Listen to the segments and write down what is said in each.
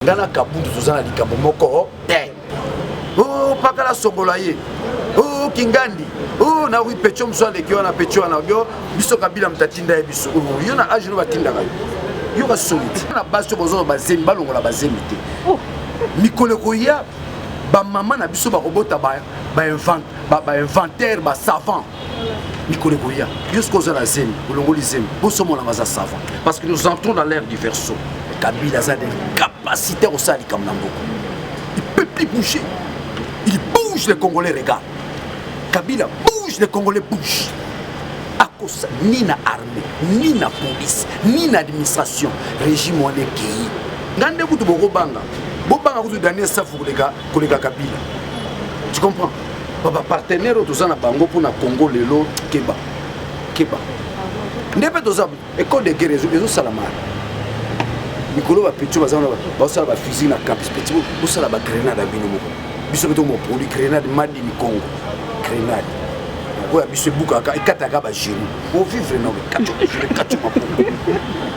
nga na kabutu toza na likambo moko te o oh, pakala songola ye o oh, kingandi o oh, na wi pecho mosu aleki wana pecho wana yo biso kabila moto atinda ye biso yo na age no batindaka yo yo basoliti na basi oyo bazono bazemi balongola bazemi te mikolo ekoya bamama na biso bakobota bainventaire basavant mikolo ekoya yo soki oza na zemi olongoli zemi bosomona baza savant parce que nous entrons dans l'air du verso kabila aza na capacité ya kosala likambo na mboka il peut plus bouger il bouge les congolais regarde kabila bouge les congolais bouge akosa ni na armée ni na police ni na administration régime wana ekei nga nde kutu bokobanga bobanga kutu daniel safu koleka koleka kabila tu comprends baba partenaire oyo toza na bango mpo na congo lelo keba keba nde mpe toza ecole de guerre ezosalama mikolo bapeti baza wana bazosala bafusil na campus peti bosala bagrenade ya bino moko biso mpe tomoproduit grenade madi mikongo grenade oyo ya biso ebukaka ekataka bagenu ovivre na ekati maboko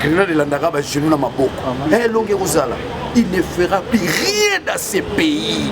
grenade elandaka bagenu na maboko elongi ekozala il ne fera plus rien dans ce pays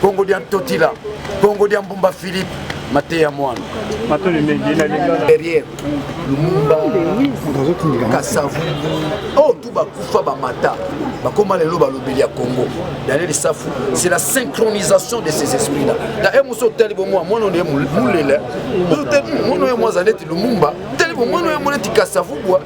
Kongo dia Ntotila, Kongo dia Mbumba Philippe, mateya mwana derrière lumumba kasavungu oyo oh, tu bakufa bamata bakoma lelo balobeli ya congo daniel safu c'est la synchronisation de ces esprits là na e mosi otali bomwa mwana oyo mulela mwana oyo mwaza neti lumumba tali bomwana oyo mwana neti kasavugwa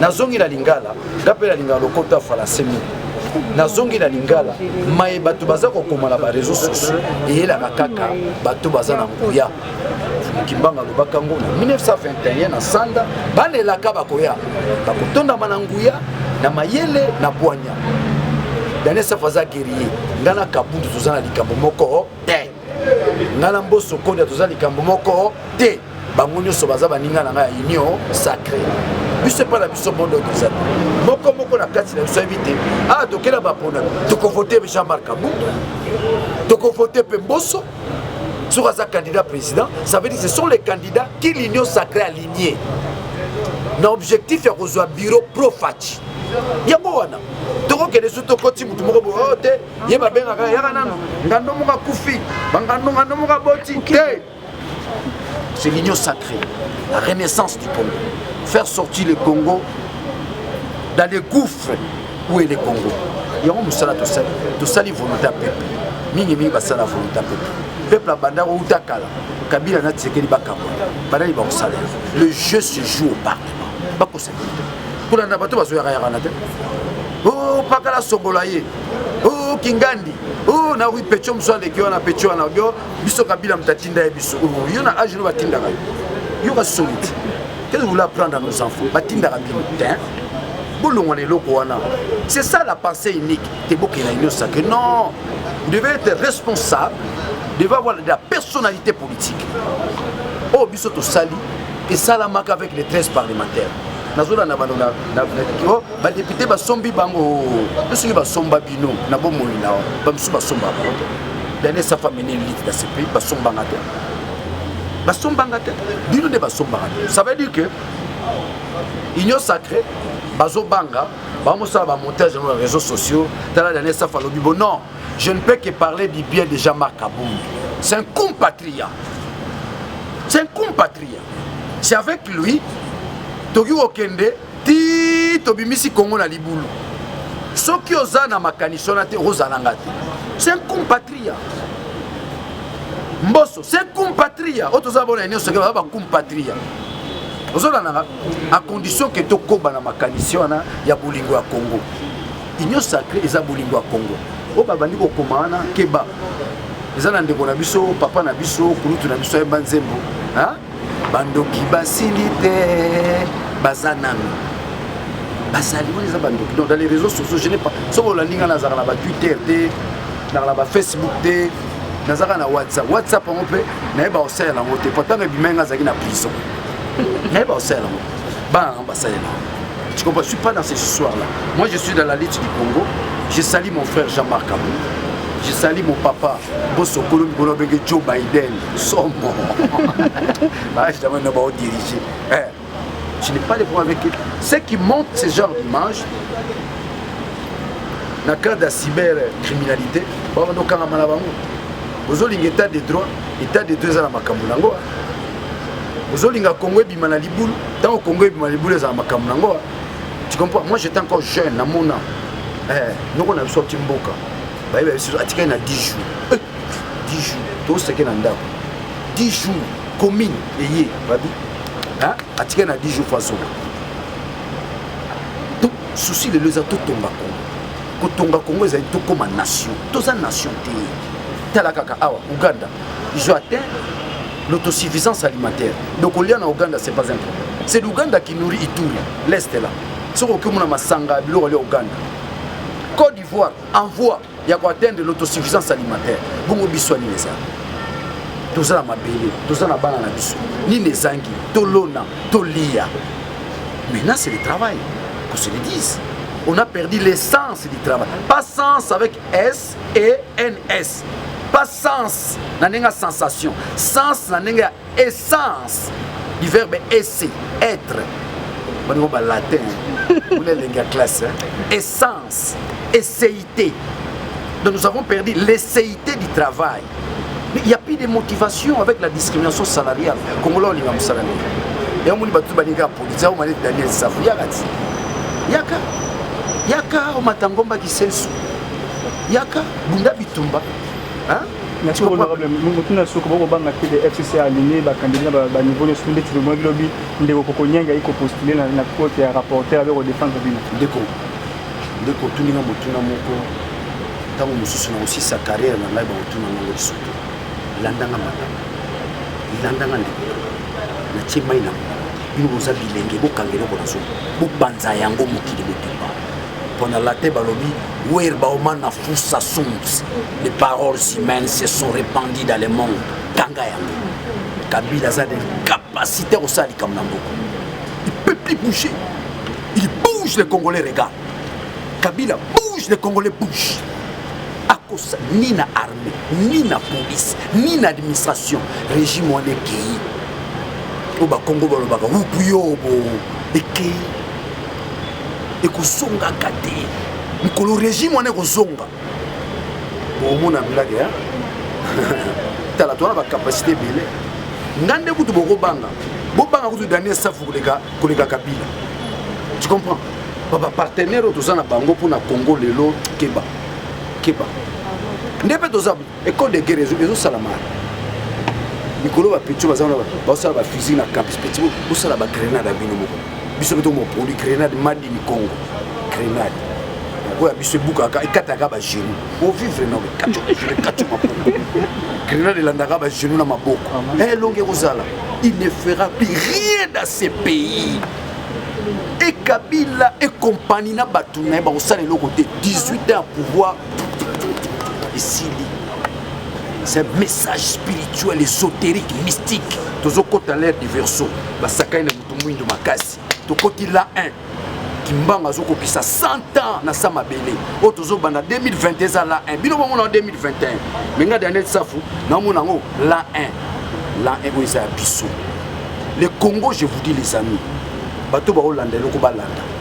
nazongi na lingala nga mpe na lingala lokoto ya falanse mingi nazongi na lingala maye bato baza kokoma na bareseau sociaux eyelaka kaka bato baza na nguya mokimbanga alobaka yango na 1921 na sanda bana elaka bakoya bakotondama na nguya na mayele na bwanya daniel safa aza guerrier ngai na kabundu toza na likambo moko te nga na mboso kodia toza likambo moko te bango nyonso baza baninga na ngai ya union sacré biso epai na biso bondo tozali moko moko na kati na biso ayebi te awa ah, tokela bapona tokovote jean marc abutu tokovote mpe mboso soki aza candidat président ça veut dire ce sont les candidats qui l'union sacré aligné na objectif ya kozwa bureau profaci yango wana tokokende so tokoti motu moko boyo oh, te ye babengaka yaka nanu ngando moko akufi bangando ngando moko aboti te c'est l'union sacrée la renaissance du congo faire sortir le congo dans le gouffre où est le congo yango mosala tosali tosali volonté ya peuple mingimingi basala volonté ya peuple peuple abanda kouta kala kabila na tisekeli bakambo banani bakosala le jeu se joue au parlement bakosala kolanda bato bazoyaka yaka na te opakala oh, songola ye oh kingandi oh na oui pecho mosu aleki wana pecho wana yo biso kabila moto atinda ye biso oh, yo na age no batindaka yo yo basoni te qu'est-ce que vous voulez apprendre à nos enfants batindaka bino te bolongwa na eloko wana c'est ça la pensée unique te bokela union sacré non devait être responsable devait avoir de la personnalité politique oyo oh, biso tosali esalamaka avec les 13 parlementaires nazolanda bano na badepute basombi bango mpe soki basomba bino na bomoi na bamosusu basomba bango te dane esafa mene elite na cpi basombanga te basombanga te bino nde basombanga te ça veut dire que union sacré bazobanga bamosala bamontage yango na réseaux sociaux tala dane esafa alobi bo non je ne peux que parler du bien de jean marc abongi c'est un compatria c'est un compatria c'est avec lui toki kokende ti tobimisi congo na libulu soki oza na makanisi wana te okozala nga te c'est un compatria mboso c'est un compatria oyo toza bona nyonso ke baza bacompatria ozolanaka a condition ke tokoba na makanisi wana ya bolingo ya congo union sacré eza bolingo ya congo oyo babandi kokoma wana keba eza na ndeko na biso papa na biso kulutu na biso ayemba nzembo bandoki basili te baza nanu bazali wana eza bandoki donc dans les réseaux sociaux je n'ai pas soki olandi ngai nazalaka na batwitter te nazalaka na bafacebook te nazalaka na whatsapp whatsapp yango mpe nayeba kosalela yango te pourtant ebima ngai azalaki na prison nayeba kosalela yango bana nango basalela tu comprends je suis pas dans ces histoires là moi je suis dans la lutte du congo je sali mon frère jean-marc abou je sali mon papa bosokolo mikolo abenge joe biden sombo bajamai na baodirige eh, je n'ai pas de problème avec eux ceux qui montent ce genre d'image na cadre ya cybercriminalité babanda okangama na bango ozolinga état de droit état de droit eza na makambo na yango ozolinga congo ebima na libulu ntango congo ebima na libulu eza na makambo na yango tu comprends moi j'étais encore jeune namona eh, noko na biso ati mboka bayeba biso atikali na 10 jours 10 eh! jours toseke na ndako 10 jours commune eye babi atikali na 10 jours fazoka susi lelo eza totonga kongo kotonga kongo ezali tokóma nation toza nation te tala kaka awa uganda izo atteint l'autosuffisance alimentaire donc olia na uganda c'est pas un problème c'est l'ouganda qui nourrit ituri l'est là soki okimona masanga biloko alia uganda côte d'ivoire en voie ya ko atteindre l'autosuffisance alimentaire bongo biso nini eza toza na mabele toza na bana na biso nini ezangi tolona toliya maintenant c'est le travail qu'on se le dise on a perdu l'essence du travail pas sens avec s et ns pas sens na ndenge ya sensation sens na ndenge ya essence du verbe esse être baningo ba latin kuna elengi ya classe essence esseité donc nous avons perdu l'esseité du travail mais il n'y a plus de motivation avec la discrimination salariale congolais olinga mosala nini yango moni bato baninga ya polisi yango mani daniel safu yaka ti yaka yaka omata ngomba kisensu yaka bunda bitumba Merci beaucoup honorable motuna ya soko bokobanga te de fcc aligné bakandidi na baniveau nyonso ndeti lomwaki lobi ndeko kokonyanga ye kopostule na cote ya rapporteur abe kodefendre bino ndeko ndeko otuninga motuna moko ntango mosusu na kosisa carrière na ngai bakotuna ngango lisusu landanga matanga landanga ndeko natie mai na bino boza bilenge bokanga eloko na zolo bobanza yango mokili botumba pona late balobi wer baoma na fusa sums les paroles humaines se sont répandues dans le monde kanga yango kabila aza na capacité kosala likambo na mboka il peut plus bouger il bouge le congolais regarde kabila bouge le congolais bouge akosa ni na armée ni na police ni na administration régime wana ekei oyo bakongo balobaka wupu yo bo ekei ekozongaka te mokolo régime wana ekozonga omona blage ya tala towana bacapacité ebele nga nde kutu bokobanga bobanga kutu daniel safu koleka koleka kabila tu comprends bapartenaire oyo toza na bango mpo na congo lelo keba keba nde mpe toza École de guerre ezo salama. Mikolo ba petit baza na ba sala ba fusil na campus petit bo sala ba grenade à bino moko. Biso beto mo produit grenade madi ni Congo. Grenade. Oya biso bukaka ekataka ba genoux. O vivre na kacho kacho mapungu. Grenade elandaka ba genoux na maboko. Eh longue ekozala. Il ne fera plus rien dans ce pays. ekabila ekompani na bato na ye bakosala eloko te 18 ans ya pouvoir esili c'est un message spirituel ésotérique mystique tozokota l'air du verso basakani na moto mwindo makasi tokoti la 1 kimbanga azokokisa 100 ans na sa mabele oyo tozobanda 2020 eza la 1 bino bamona 2021 me nga daniel safu naomona yango la 1 la 1 oyo eza ya biso le congo je vous dis les amis bato baolanda eloko balanda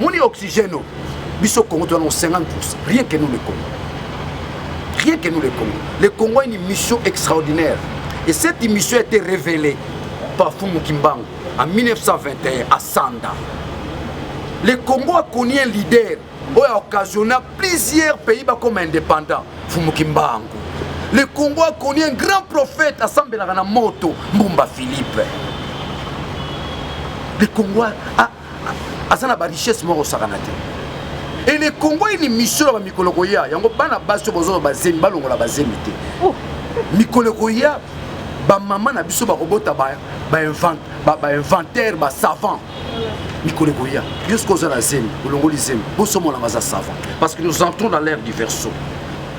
moni oxygène oyo biso congo tozana 50 pourcent rien que nous le congo rien que nous le congo le congo a une mission extraordinaire et cette mission a été révélée par fumu kimbangu en 1921 à sanda le congo a connu un leader oyo a occasionna plusieurs pays bakoma indépendant fumu kimbangu le congo a connu un grand prophète asambelaka na moto mbumba philippe le congo a aza na barichesse moko osakana te ele kongo ini misio na bamikolo koya yango bana basi oyo bozolo bazemi balongola bazemi te oh. mikolo koya bamama na biso bakobota bainventaire basavant mikolo koya yo soki oza na zemi olongoli zemi bosomonanga aza savant parce que nous entrons dans l'air du verso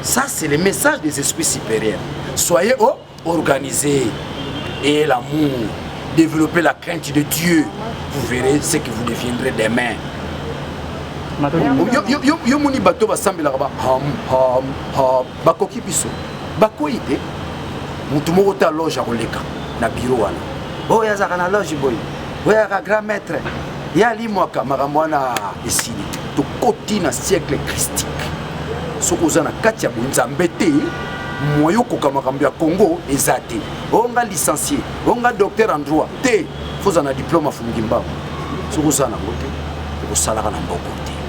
Ça, c'est le message des esprits supérieurs. Soyez oh, organisés et l'amour. Développez la crainte de Dieu. Vous verrez ce que vous deviendrez demain. yo moni bato basambelaka ba ham ham ham bakoki biso bakwei te motu moko te aloge akoleka na biro wana oyo azalaka na loge boye oyo ayaka grand maître ye alimwaka makambo wana esili tokoti na siècle christique soki oza na kati ya bonzambe te moyen okoka makambo ya congo eza te oyo nga licencie oyo nga docteur en droit te foza na diplome afungi mbango soki oza nango te okosalaka na mboko